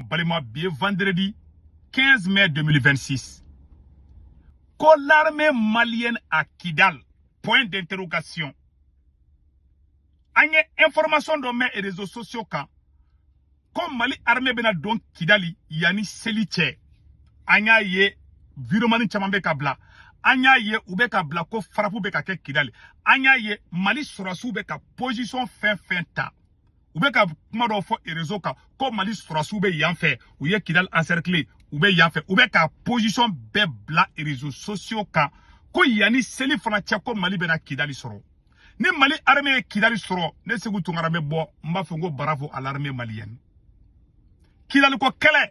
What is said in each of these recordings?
n balima bi ye vendredi 15 mai 2026 ko l'armée malienne à Kidal point d'interrogation an ye information dɔ mɛn réseaux sociaux kan ko mali armée bɛna don kidali yanni seli cɛ an y'a ye videomani caman bɛ k'a bila an y'a ye u bɛ k'a bila ko farapu bɛ ka kɛ kidali an y'a ye mali sɔrɔdasiw bɛ ka position fɛn fɛn ta u bɛ ka kuma dɔ fɔ réseau kan ko mali sɔrɔdasiw bɛ yan fɛ u ye kidali encerclé u bɛ yan fɛ u bɛ ka position bɛɛ bila réseaux sociaux kan ko yanni seli fana cɛ ko mali bɛna kidali sɔrɔ ni mali armée ye kidali sɔrɔ ne seku tunkara bɛ bɔ n b'a fɔ n ko bravo à l'armée malienne kidaliko kɛlɛ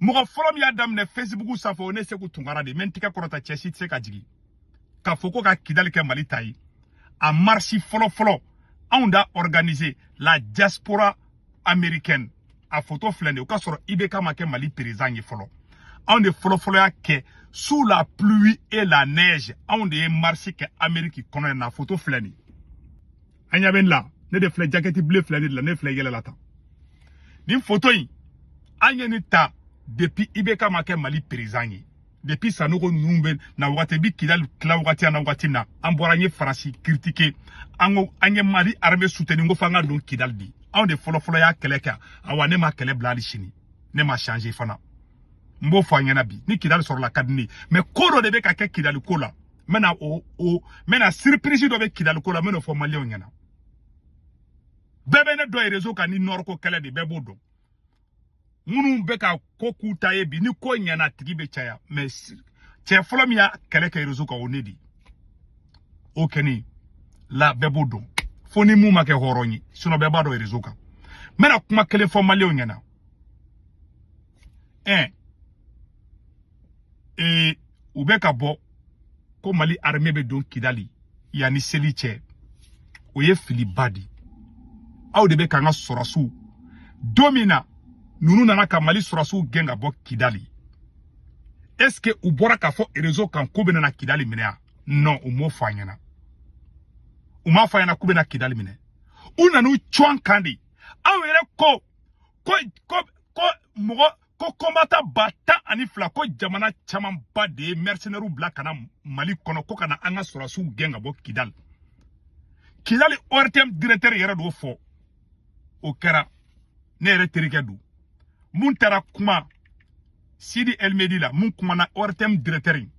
mɔgɔ fɔlɔ min y'a daminɛ fesibuku sanfɛ o ne seku tunkara de mais n tɛgɛ kɔrɔta cɛ si tɛ se k'a jigin k'a fɔ ko ka kidali kɛ mali ta ye a marisi fɔlɔfɔlɔ anw d'a organisé la diaspora américaine a foto filɛ de o k'a sɔrɔ ibk ma kɛ mali perezidan ye fɔlɔ anw de fɔlɔfɔlɔ y'a kɛ sous la pluie et la neige anw de ye marisi kɛ ameriki kɔnɔ yan a foto filɛ nin a ɲa bɛ n la ne de filɛ jakɛti bleu filɛ ne de la ne filɛ yɛlɛla tan nin foto in an ye nin ta depuis ibk ma kɛ mali perezidan ye depuis sanogo ninnu bɛ na wagati bi kidali tila wagati na wagati na an bɔra an ye faransi kiritike an ko an ye mali armée suteni ko fo an ka don kidali bi anw de fɔlɔfɔlɔ y'a kɛlɛ kɛ awa ne m'a kɛlɛ bila hali sini ne ma changer fana n b'o fɔ aw ɲɛna bi ni kidali sɔrɔla a ka di ne ye mais ko dɔ de bɛ ka kɛ kidali ko la n bɛna o o n bɛna siripirisi dɔ bɛ kidali ko la n bɛna o fɔ maliyɛnw ɲɛna bɛɛ bɛ ne dɔn rezo kan ni nɔriko kɛlɛ de bɛɛ b'o dɔn minnu bɛ ka ko k'u ta ye bi ni ko ɲɛna a tigi bɛ caya mais cɛ fɔlɔ min y'a kɛlɛ kɛ rezo kan o ne de o kɛni la bɛɛ b'o dɔn fo ni mun ma kɛ hɔrɔn ye sinon bɛɛ b'a dɔn rezo kan n bɛna kuma kelen fɔ maliyɛnw ɲɛna ɛɛ ee u bɛ ka bɔ ko mali armée bɛ don kidali yanni seli cɛ o ye filiba di aw de bɛ k'an ka sɔrɔdasiw don min na ninnu nana ka mali sɔrɔdasiw gɛn ka bɔ kidali est ce que u bɔra k'a fɔ réseau kan k'u bɛna na kidali minɛ yan non u m'o fɔ an ɲɛna u m'a fɔ an ɲɛna k'u bɛna kidali minɛ u nan'u cun an kan de aw yɛrɛ ko ko ko ko mɔgɔ ko kɔnbatan ba tan ani fila ko jamana camanba de ye mɛrisinɛriw bila ka na mali kɔnɔ ko ka na an ka sɔrɔdasiw gɛn ka bɔ kidali kidali ortm diretɛri yɛrɛ d'o fɔ o kɛra ne yɛrɛ terikɛ don mun taara kuma sidi el mehdi la mun kumana ortm diretɛri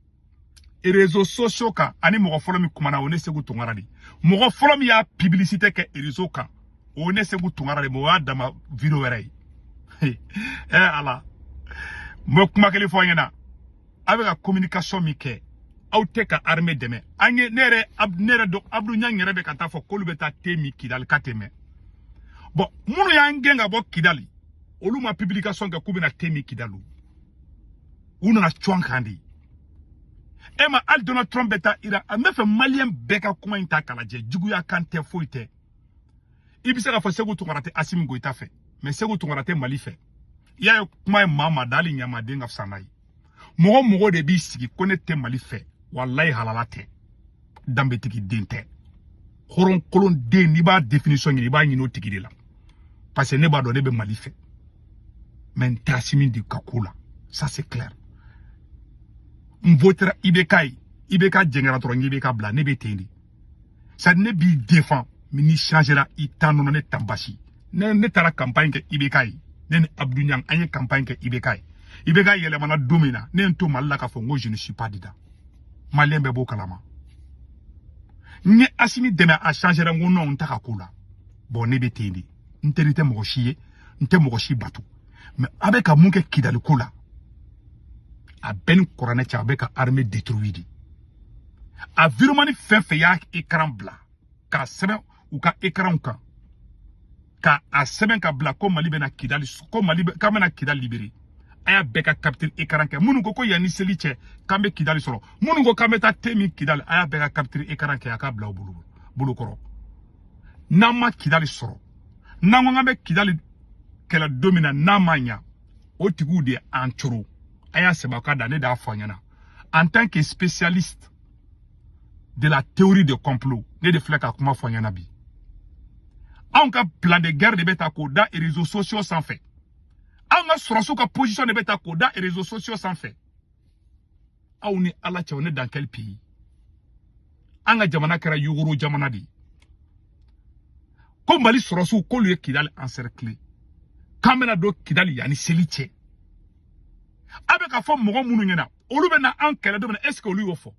rezo sosiyo kan ani mɔgɔ fɔlɔ min kumana o ne segu tungara de mɔgɔ fɔlɔ min y'a pibilisite kɛ rezo kan o ne segu tungara de mɛ o y'a dama video wɛrɛ ye ɛ eh, ala n bɛ kuma kelen fɔ a ɲɛna aw bɛ ka communication min kɛ aw tɛ ka armée dɛmɛ an ye ne yɛrɛ ne yɛrɛ dɔn abdu ɲang yɛrɛ bɛ ka taa fɔ k'olu bɛ taa te min kidali ka tɛmɛ bɔn minnu y'an gɛn ka bɔ kidali olu ma publication kɛ k'u bɛna te min kidali u nana cun an kan de e ma hali donald trump bɛ taa iran n b'a fɛ maliyɛn bɛɛ ka kuma in ta k'a lajɛ juguya kan tɛ foyi tɛ i bɛ se k'a fɔ segu tungara tɛ asimi goyita fɛ mɛ segu tungara tɛ mali fɛ i y'a kuma ye maa maa da hali ɲamaden ka fisa n'a ye mɔgɔ mɔgɔ de b'i sigi ko ne tɛ mali fɛ walayi halala tɛ danbetigi den tɛ hɔrɔnkolon den n'i b'a définition ɲini i b'a ɲini o tigi de la parce que ne b'a dɔn ne bɛ mali fɛ mɛ n tɛ asimi de ka ko la ça c'est clair n votera ibk ye ibk jɛngɛra dɔrɔn ibk bila ne bɛ ten de sa ne b'i défend mais n'i changera i tan nɔnɔ ne tan basi ne ne taara campagne kɛ ibk ye ne ni abdou ɲang an ye campagne kɛ ibk ye ibk yɛlɛmana don min na ne ye n to mali la k'a fɔ n ko je ne suis pas dedans maliyɛn bɛɛ b'o kalama n ye asimi dɛmɛ a changera n ko nɔn n t'a ka ko la bɔn ne bɛ ten de n teri tɛ mɔgɔ si ye n tɛ mɔgɔ si bato mɛ a bɛ ka mun kɛ kidali ko la a bɛɛ ni kuranɛ cɛ a bɛ ka arme detruwi de a videomani fɛn fɛn y'a ekaran bila k'a sɛbɛn u ka ekranw kan k'a sɛbɛn ka bila ko mali bɛna kidali ko mali k'an bɛna kidali libere a y'a bɛɛ ka capture écran kɛ minnu ko ko yanni seli cɛ k'an bɛ kidali sɔrɔ minnu ko k'an bɛ taa te min kidali a y'a bɛɛ ka capture écran kɛ a k'a bila aw bolo kɔrɔ n'an ma kidali sɔrɔ n'an ko k'an bɛ kidali kɛlɛ don min na n'a ma ɲa o tigiw de an coro a y'a sɛbɛn ka da ne de y'a fɔ a ɲɛna en tant que spécialiste de la théorie de complot ne de filɛ ka kuma fɔ a ɲɛna bi anw ka plan de guerre de bɛ ta k'o da réseaux sociaux sanfɛ anw ka sɔrɔdasiw ka position de bɛ ta k'o da réseaux sociaux sanfɛ aw ni ala cɛ on est dans quel pays an ka jamana kɛra yogoro jamana de ye ko mali sɔrɔdasiw k'olu ye kidali encerclé k'an bɛna don kidali yanni seli cɛ aw bɛ k'a fɔ mɔgɔ minnu ɲɛna olu bɛ na an kɛlɛ don min na est ce que olu y'o fɔ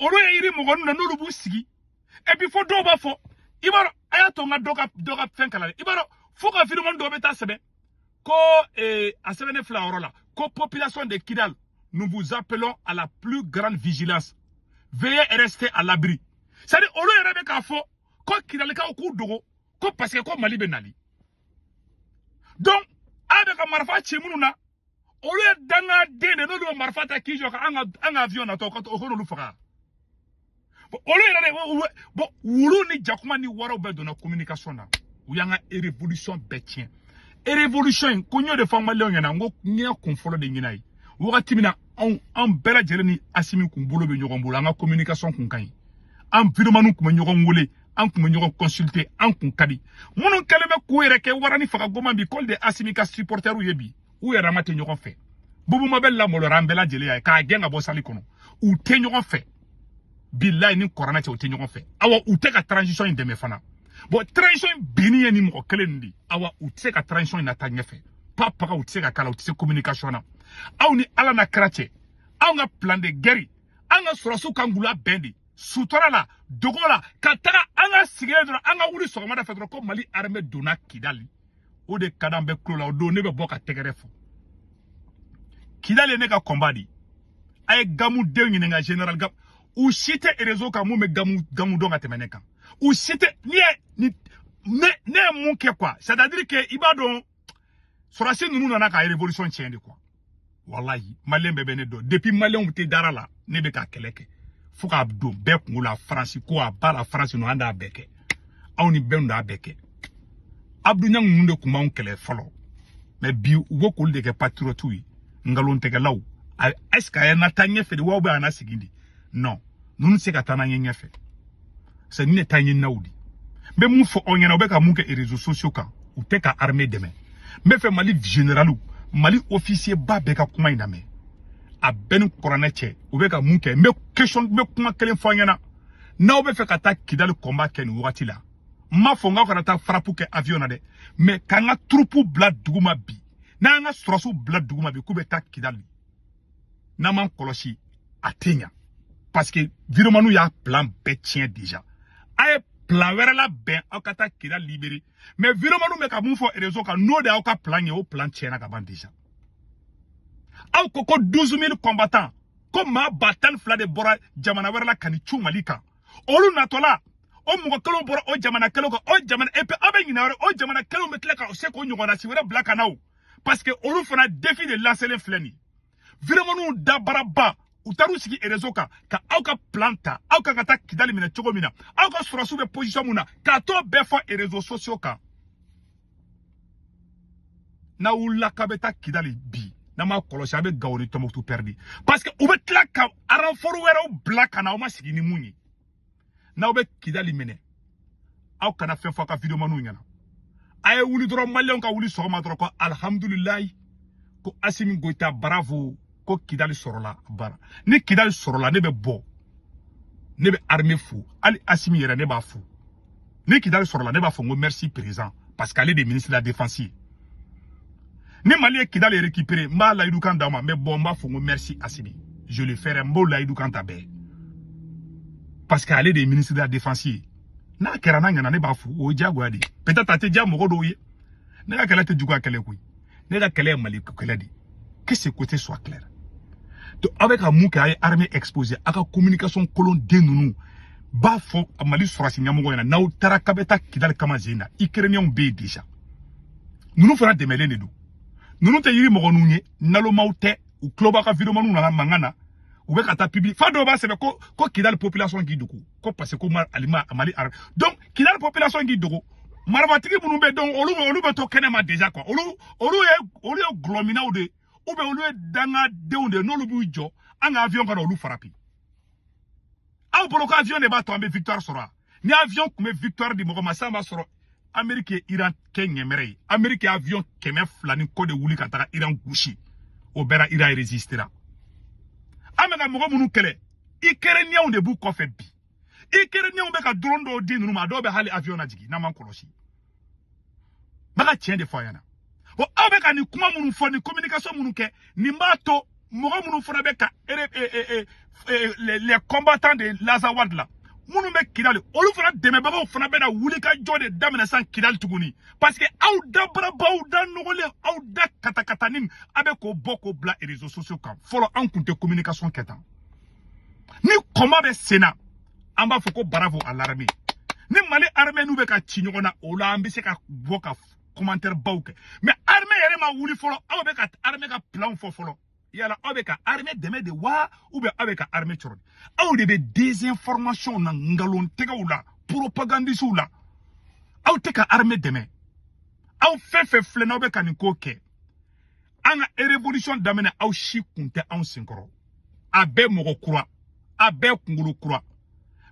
olu ye yiri mɔgɔ ninnu na n'olu b'u sigi et puis fo dɔw b'a fɔ i b'a dɔn a y'a to n ka dɔ ka dɔ ka fɛn kalan dɛ i b'a dɔn fo ka videomani dɔ bɛ taa sɛbɛn ko eh, a sɛbɛnnen filɛ yɔrɔ la ko population de kidal nous vous appelons à la plus grande vigilance veuillez rester à l'abri c'est à dire olu yɛrɛ bɛ k'a fɔ ko kidalikaw k'u dogo ko parce que ko mali bɛ nali donc a bɛ ka marifa ci minnu na olu ye danga den de n'olu ye marifa ta k'i jɔ ka an ka an ka avion natɔ ka o k'olu faga olu yɛrɛ de bon wulu ni jakuma ni waraw bɛɛ donna communication na u y'an ka révolution bɛɛ tiɲɛ révolution in ko n y'o de fɔ maliyɛnw ɲɛna n ko n y'a kun fɔlɔ de ɲɛna ye wagati min na anw an bɛɛ lajɛlen ni asimi kun bolo bɛ ɲɔgɔn bolo an ka communication kun ka ɲi an vidéomaniw kun bɛ ɲɔgɔn wele an kun bɛ ɲɔgɔn consulter an kun ka di minnu kɛlen bɛ k'u yɛrɛ kɛ wara ni faga goman bi k'olu de asimi ka supportɛriw ye bi u yɛrɛ ma tɛ ɲɔgɔn fɛ boubou mabel lamolora an bɛɛ lajɛlen y'a ye k'a gɛn ka bɔ sali kɔnɔ u tɛ ɲɔgɔn fɛ bilayi ni kuranɛ cɛ u tɛ ɲɔgɔn fɛ awa u tɛ ka transition in dɛmɛ fana bon transition in binni ye ni mɔgɔ kelen nin de awa u tɛ se ka transition in nataa ɲɛfɛ pa paga u tɛ se ka k'a la u tɛ se communication na aw ni ala na kira cɛ anw ka plan de guerre an ka sɔrɔsiw kan k'u labɛn de sutura la dogo la ka taga an ka sigilen dɔrɔn an ka wuli sɔgɔmada fɛ dɔrɔn ko mali armée donna kidali o de ka d'an bɛɛ kulo la o don ne bɛ bɔ ka tɛgɛrɛ fɔ kidali ye ne ka combat di a ye gamu denw ɲininka général gamu u si tɛ réseau kan mun bɛ gamu dɔn ka tɛmɛ ne kan u si tɛ n'i ye ni ne ne ye mun kɛ quoi c'est à dire que i b'a dɔn sɔrɔsi ninnu nana ka révolution tiɲɛ de quoi walayi maliyɛn bɛɛ bɛ ne dɔn depuis maliyɛnw tɛ dara la ne bɛ ka kɛlɛ kɛ fo k'a don bɛɛ kungo la faransi ko à bas la france ninnu an d'a bɛɛ kɛ aw ni bɛɛ d'a bɛɛ kɛ abdou niang ninnu de kun b'anw kɛlɛ fɔlɔ mais bi u bɛ k'olu de kɛ patirɔtiw ye nkalontigɛlaw est ce que a ye nataa ɲɛfɛ de wa ou bien a nasigi de non ninnu tɛ se ka taa n'an ye ɲɛfɛ sanni ne taa ɲɛ n'aw di n bɛ mun fɔ aw ɲɛna u bɛ ka mun kɛ réseaux sociaux kan u tɛ ka armée dɛmɛ n bɛ fɛ mali généraliw mali officier ba bɛɛ ka kuma in lamɛn a bɛɛ ni kuranɛ cɛ u bɛ ka mun kɛ n bɛ question n bɛ kuma kelen fɔ aw ɲɛna n'aw bɛ fɛ ka taa kidali combat kɛ nin wagati la n m'a fɔ n k'aw kana taa frappe kɛ avion na dɛ mais k'an ka troupe bila dugu ma bi n'an ka sɔrɔsiw bila dugu ma bi k'u bɛ taa kidali n'an m'an kɔlɔsi a tɛ ɲa parce que vidéomaniw y'a plan bɛɛ tiɲɛ déjà a ye plan wɛrɛ labɛn aw ka taa kidali libérer mais vidéomaniw bɛ ka mun fɔ réseau kan n'o de y'aw ka plan ye o plan tiɲɛna ka ban déjà aw ko ko 12 000 combattants ko maa ba tan ni fila de bɔra jamana wɛrɛ la ka n'i cun mali kan olu natɔla o mɔgɔ kelenw bɔra o jamana kelenw kan o jamana et puis aw bɛ ɲinɛ wɛrɛ o jamana kelenw bɛ tila ka se k'o ɲɔgɔnnasi wɛrɛ bila ka na o parce que olu fana défi de lancélen filɛ nin vidéomaniw dabaraba u taar'u sigi réseau kan ka aw ka plan ta aw kan ka taa kidali minɛ cogo min na aw ka sɔrɔsiw bɛ position min na ka t'o bɛɛ fɔ réseaux sociaux kan n'aw wulila k'a bɛ taa kidali bi n'a ma kɔlɔsi a bɛ gawo ni tɔnbukutu pɛridi parce que u bɛ tila ka renfort wɛrɛw bila ka na aw ma sigi ni mun ye n'aw bɛ kidali minɛ aw kana fɛn fɔ aw ka videomaniw ɲɛna a ye wuli dɔrɔn maliyɛnw ka wuli sɔgɔma dɔrɔn ko alihamudulilayi ko asimi goyita bravo ko kidali sɔrɔla bara ni kidali sɔrɔla ne bɛ bɔ ne bɛ arme fo hali asimi yɛrɛ ne b'a fo ni kidali sɔrɔla ne b'a fɔ n ko merci président parce que ale de ministre de la défense ye ni mali ye kidali récupérer n b'a layidu kan d'aw ma mais bon n b'a fɔ n ko merci asimi je le ferai n b'o layidu kan ta bɛɛ parce que ale de ye ministre de la défense ye n'a kɛra n'a ɲɛna ne b'a fo o ye diyagoya de ye peut-être a tɛ diya mɔgɔ dɔw ye ne ka kɛlɛ tɛ juguya kɛlɛ koyi ne ka kɛlɛ ye mali kɛlɛ de que ce côté soit clair donc aw bɛ ka mun kɛ a ye armée exposer aw ka communication kolon den ninnu b'a fɔ mali sɔrɔsi ɲɛmɔgɔ ɲɛna n'aw taara k'a bɛ taa kidali kama zen na ukrainiyɛnw bɛ yen déjà ninnu fana dɛmɛlen de don ninnu tɛ yirimɔgɔninw ye nalomaw tɛ u tulo b'a ka videomaniw na mankan na u bɛ ka taa public fa dɔw b'a sɛbɛn ko ko kidali population k'i dogo ko parce que ko mali mali donc kidali population k'i dogo marifatigi minnu bɛ donc olu olu bɛ to kɛnɛma déjà quoi olu olu ye olu ye gulɔminaw de ou bien olu ye dangadenw de n'olu b'u jɔ an ka avion ka na olu farapi aw bolo ko avion de b'a to an bɛ victoire sɔrɔ ni avion tun bɛ victoire di mɔgɔ ma sisan b'a sɔrɔ ameriki ye iran kɛ ɲɛmɛrɛ ye ameriki ye avion kɛmɛ fila ni kɔ de wuli ka taga iran gosi o bɛɛ ra iran resistera an bɛ ka mɔgɔ minnu kɛlɛ ikɛrɛniyɛnw de b'u kɔfɛ bi ikɛrɛniyɛnw bɛ ka drone dɔw di ninnu ma a dɔw bɛ hali avion najigin n'an m'an kɔlɔsi n bɛ ka tiɲɛ de fɔ a ɲɛna bon aw bɛ ka nin kuma minnu fɔ nin communication minnu kɛ nin b'a to mɔgɔ minnu fana bɛ ka ere e, e, e, e, les, les combattants de l'azawad la minnu bɛ kidali olu fana dɛmɛbagaw fana bɛna wuli ka jɔ de daminɛ sisan kidali tuguni parce que aw da baraba aw da nɔgɔlen aw da katakatanin a bɛ k'o bɔ k'o bila réseaux sociaux kan fɔlɔ an tun tɛ communication kɛ tan ni combat bɛ sen na an b'a fɔ ko bravo à l'armée ni mali armée n'u bɛ ka ci ɲɔgɔn na o la an bɛ se ka bɔ ka commentaire baw kɛ mais armée yɛrɛ ma wuli fɔlɔ aw bɛ ka armée ka plan fɔ fɔlɔ yala aw bɛ ka armée dɛmɛ de wa ou bien aw bɛ ka armée cɔrɔn de aw de bɛ désinformation na nkalon tigɛw la propagandistes la aw tɛ ka armée dɛmɛ aw fɛn fɛn filɛ n'aw bɛ ka nin ko kɛ an ka révolution daminɛ aw si kun tɛ anw senkɔrɔ a bɛɛ mɔgɔ kura a bɛɛ kunkolo kura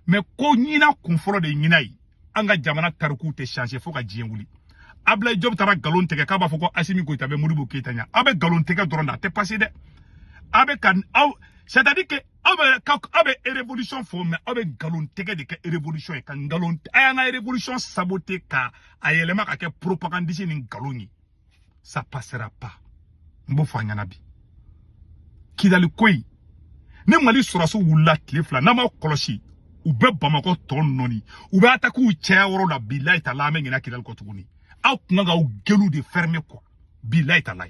mais ko ɲina kun fɔlɔ de ɲina ye an ka jamana tarikuw tɛ changer fo ka diɲɛ wuli ablaye jɔpu taara nkalon tigɛ k'a b'a fɔ ko asimi goyita bɛ modibo keyita ɲa aw bɛ nkalon tigɛ dɔrɔn da a tɛ passer dɛ aw bɛ ka aw c'est à dire que aw bɛ ka aw bɛ révolution fɔ mais aw bɛ nkalon tigɛ de kɛ révolution ye ka nkalon a y'an ka révolution saboter ka a yɛlɛma ka kɛ propagandiste ni nkalon ye ça passera pas n b'o fɔ a ɲɛna bi kidali ko in ni mali sɔrɔsiw wulila tile fila n'an m'a kɔlɔsi u bɛ bamakɔ tɔ nɔni u bɛ atakiw caya yɔrɔ la bilayi taala an bɛ ɲinɛ kidali kɔ tuguni aw kun kan k'aw gueule de fermer quoi bilayi taala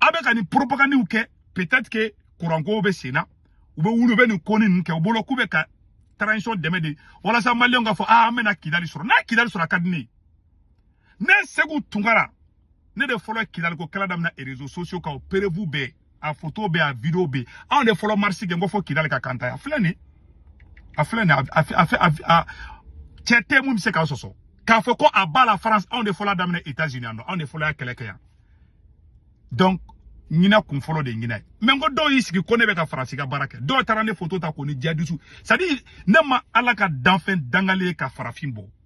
aw bɛ ka nin poropagandiw kɛ peut-être que kurankow bɛ sen na u bɛ wuli u bɛ nin ko ni ninnu kɛ u bolo k'u bɛ ka transition dɛmɛ de walasa maliyɛnw ka fɔ aa an bɛna kidali sɔrɔ n'a kidali sɔrɔ a ka di ne ye ne seku tunkara ne de fɔlɔ kidali ko kɛlɛ daminɛ réseaux sociaux kan o preuve bɛ a foto bɛ a video bɛ anw de fɔlɔ marisi kɛ n ko fo kidali ka kantaya a filɛ nin a filɛ nin a cɛ tɛ min bɛ se k'a sɔsɔ k'a fɔ ko à bas la france anw de fɔlɔ daminɛ états unis yan nɔ anw de fɔlɔ y'a kɛlɛ kɛ yan donc ɲinɛ kun fɔlɔ de ɲinɛ mɛn ko dɔw y'i sigi ko ne bɛ ka faransi ka baara kɛ dɔw taara ne foto ta k'o ni jihadisiw c'est à dire ne ma ala ka danfɛn dangalen ye ka farafin bɔ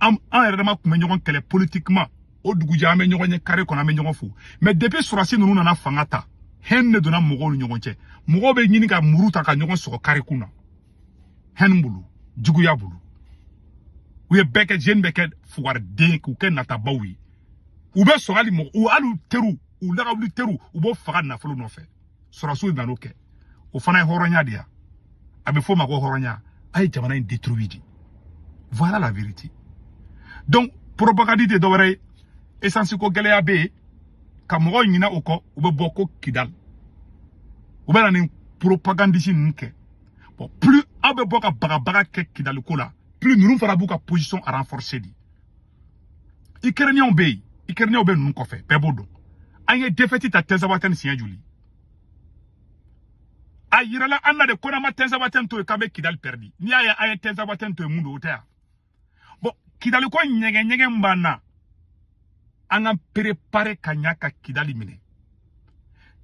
an an yɛrɛ dama tun bɛ ɲɔgɔn kɛlɛ politiquement o dugujɛ an bɛ ɲɔgɔn ye carré kɔnɔ an bɛ ɲɔgɔn fo mais depuis sɔrɔsi ninnu nana fanga ta haine de donna mɔgɔw ni ɲɔgɔn cɛ mɔgɔw bɛ ɲini ka muru ta ka ɲɔgɔn sɔgɔ carré kun na haine bolo juguya bolo u ye bɛɛ kɛ jeune bɛɛ kɛ fugariden k'u kɛ natabaw ye u bɛ sɔrɔ hali mɔgɔ u hali u teriw u lagawuli teriw u b'o faga nafolo nɔfɛ sɔrɔsiw nan'o kɛ o fana ye hɔrɔnya de ya a bɛ f'o ma ko hɔrɔnya a ye jamana in détruire de voilà la vérité donc propagande tɛ dɔwɛrɛ ye essence ko gɛlɛya bɛ yen ka mɔgɔw ɲinɛ o kɔ u bɛ bɔ ko kidali u bɛ na nin propagandisi ninnu kɛ bon plus aw bɛ bɔ ka bagabaga kɛ kidali ko la plus ninnu fana b'u ka position renforcer de ikɛrɛnenw bɛ yen ikɛrɛnenw bɛ ninnu kɔfɛ bɛɛ b'o dɔn an ye defɛti ta tinzawatɛn siɲɛ joli a yirala an na de ko n'an ma tinzawatɛn to yen k'an bɛ kidali pɛridi n'i y'a ye an ye tinzawatɛn to yen mun don o tɛ yan bon kidaliko nege nege b'an na an ka perepare ka ɲa ka kidali minɛ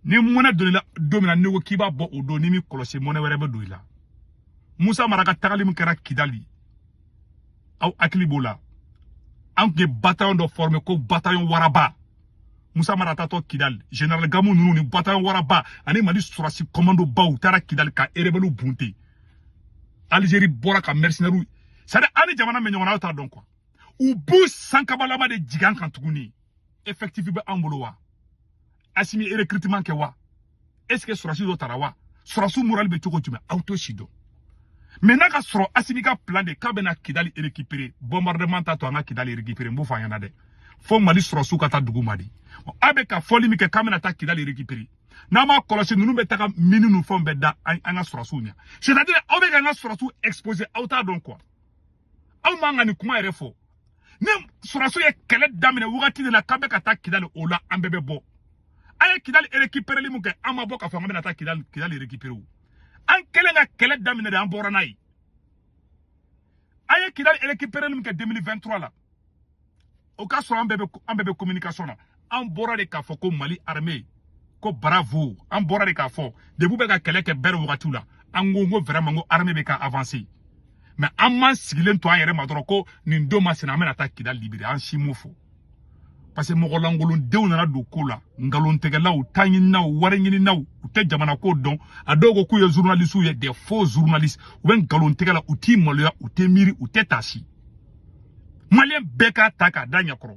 ni mɔnɛ don i la don min na n'i ko k'i b'a bɔ o don n'i m'i kɔlɔsi mɔnɛ wɛrɛ bɛ don i la musa mara ka tagali min kɛra kidali aw hakili b'o la an tun ye bataillon dɔ forme ko bataillon waraba musa mara taatɔ kidali général gamu ninnu ni bataillon waraba ani mali sɔrɔsi commando baw u taara kidali ka erebɛliw bunte algérie bɔra ka mercenaires c'est à dire an ni jamana bɛ ɲɔgɔn na aw t'a dɔn quoi u b'u sankabalama de jigin an kan tuguni effectif bɛ an bolo wa asimi ye recrutement kɛ wa est ce que sɔrɔsi dɔ tara wa sɔrɔsi moral bɛ cogo jumɛn aw t'o si dɔn maintenant k'a sɔrɔ asimi ka plan de k'a bɛna kidali récupérer bombardement t'a to an ka kidali récupérer n b'o fɔ a ɲɛna dɛ fo mali sɔrɔsiw ka taa dugu ma de a bɛ ka fɔli min kɛ k'an bɛna taa kidali récupérer n'an m'a kɔlɔsi ninnu bɛ taa ka mini ninnu fɛnw bɛɛ da an ka sɔrɔsiw ɲɛ c'est à dire aw bɛ ka an ka sɔrɔsiw exposer aw t'a dɔn quoi aw man ka nin kuma yɛrɛ fɔ ni sɔrɔsiw ye kɛlɛ daminɛ wagati de la k'an bɛ ka taa kidali o la an bɛɛ bɛ bɔ an ye kidali récupéreli min kɛ an ma bɔ k'a fɔ an bɛna taa kidali kidali récupérer o an kɛlen ka kɛlɛ daminɛ de an bɔra n'a ye an ye kidali récupéreli min kɛ 2023 la o ka sɔrɔ an bɛɛ bɛ an bɛɛ bɛ communication na an bɔra de k'a fɔ ko mali armée ko bravo an bɔra de k'a fɔ depuis bɛ ka kɛlɛ kɛ bɛrɛ wagatiw la an ko ko vraiment ko armée bɛ ka avancer mais an m'an sigilen to an yɛrɛ ma dɔrɔn ko nin don masina an bɛna taa kidali libérer an si m'o fɔ parce que mɔgɔ lankolondenw nana don ko la nkalontigɛlaw taɲininaw wari ɲininaw u tɛ jamana ko dɔn a dɔw ko k'u ye journalistes ye des faux journalistes u bɛ nkalontigɛ la u tɛ maloya u tɛ miiri u tɛ taasi maliyɛn bɛɛ k'a ta k'a da ɲɛkɔrɔ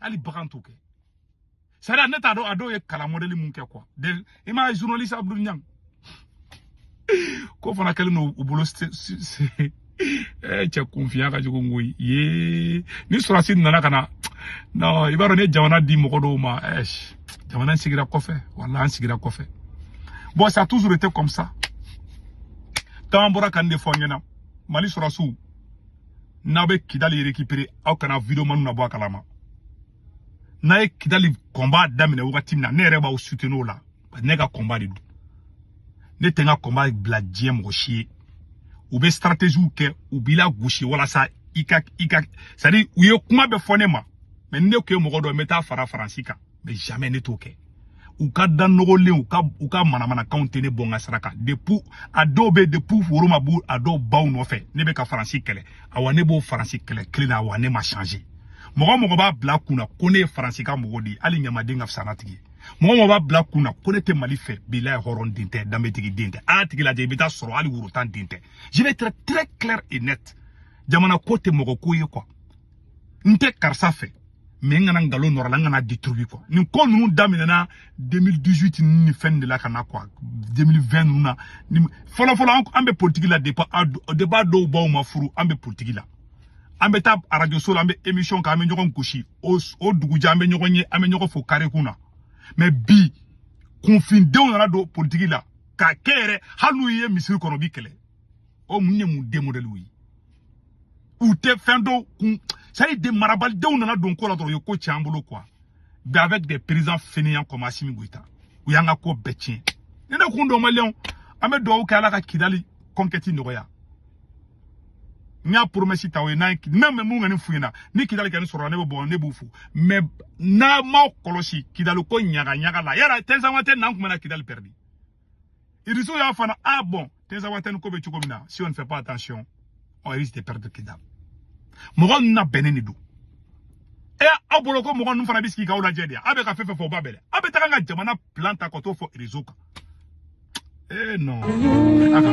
hali bagan t'o kɛ c'est à dire ne t'a dɔn a dɔw ye kalan modèle mun kɛ quoi i m'a ye journaliste abdoul niang ko fana kɛlen don u bolo cɛ kunfinya ka jugu koyi ye ni sɔrɔsi nana ka na non i b'a dɔn ne jamana di mɔgɔ dɔw ma jamana in sigira kɔfɛ wala an sigira kɔfɛ bon ça a toujours été comme ça caman bɔra ka nin de fɔ an ɲɛna mali sɔrɔsiw n'aw bɛ kidali récupérer aw kana vidéoman ninnu bɔ a kalama n'aw ye kidali combat daminɛ wagati min na ne yɛrɛ b'aw soutenir o la ne ka combat de don ne tɛ n ka combat bila diɲɛ mɔgɔ si ye u bɛ stratégies kɛ u b'i lagosi walasa i ka i ka c'est à dire u ye kuma bɛɛ fɔ ne ma mais ni ne tun ye mɔgɔ dɔ n bɛ taa fara faransi kan mais jamais ne t'o kɛ u ka da nɔgɔlen u ka u ka manamanakanw tɛ ne bɔ n ka sira kan depuis a dɔw bɛ depuis woro ma bɔ a dɔw baw nɔfɛ ne bɛ ka faransi kɛlɛ awa ne b'o faransi kɛlɛ kelen na awa ne ma changer mɔgɔ mɔgɔ b'a bila kun na ko ne ye faransi ka mɔgɔ de ye hali ɲamaden ka fisa n'a tigi ye mɔgɔ mɔgɔ b'a bila kun na ko ne tɛ mali fɛ bilahi hɔrɔn den tɛ danbetigi den tɛ a y'a tigi lajɛ i bɛ taa sɔrɔ hali worotan den tɛ je vais être très clair et net jamana ko tɛ mɔgɔ ko ye quoi n tɛ karisa fɛ mais n kana nkalon nɔrɔ a la n kan'a détruire quoi nin ko ninnu daminɛna 2018 ninnu ni fɛn de la ka na quoi 2020 ninnu na fɔlɔ fɔlɔ an bɛ politique la depuis depuis a dɔw baw ma furu an bɛ politique la an bɛ taa arajo so la an bɛ émission kɛ an bɛ ɲɔgɔn gosi o o dugujɛ an bɛ ɲɔgɔn ye an bɛ ɲɔgɔn fo carré kun na mais bi kunfindenw nana don politique la k'a kɛ yɛrɛ hali n'u ye misiri kɔnɔ u b'i kɛlɛ o mun ye mun den modɛliw ye u tɛ fɛn dɔw kun c'est à dire marabalidenw nana don ko la dɔrɔn u ye ko tiɲɛ an bolo quoi mais avec des présidents fainéants comme Assimi Goïta u y'an ka ko bɛɛ tiɲɛ ni ne kun don maliyɛnw an bɛ dugawu kɛ ala ka kidali conquête nɔgɔya n y'a promesse ta o ye n'a ye n'a mɛ mun kɔni f'u ɲɛna ni kidali kɔni sɔrɔla ne bɛ bɔ ne b'u fo mais n'aw m'aw kɔlɔsi kidali ko ɲaga ɲaga la yala tinzawatɛn n'an tun bɛna kidali pɛrɛdi Iriso y'a fana ah bon Tinzawatɛni ko bɛ cogo min na si on ne fait pas attention on risque de perdre Kidal mɔgɔ ninnu labɛnnen de don e aw bolo ko mɔgɔ ninnu fana bɛ sigi k'aw lajɛ de aw bɛ ka fɛn fɛn fɔ o b'a bɛɛ dɛ aw bɛ taga an ka jamana plan ta ka t'o fɔ réseau kan ee non a ka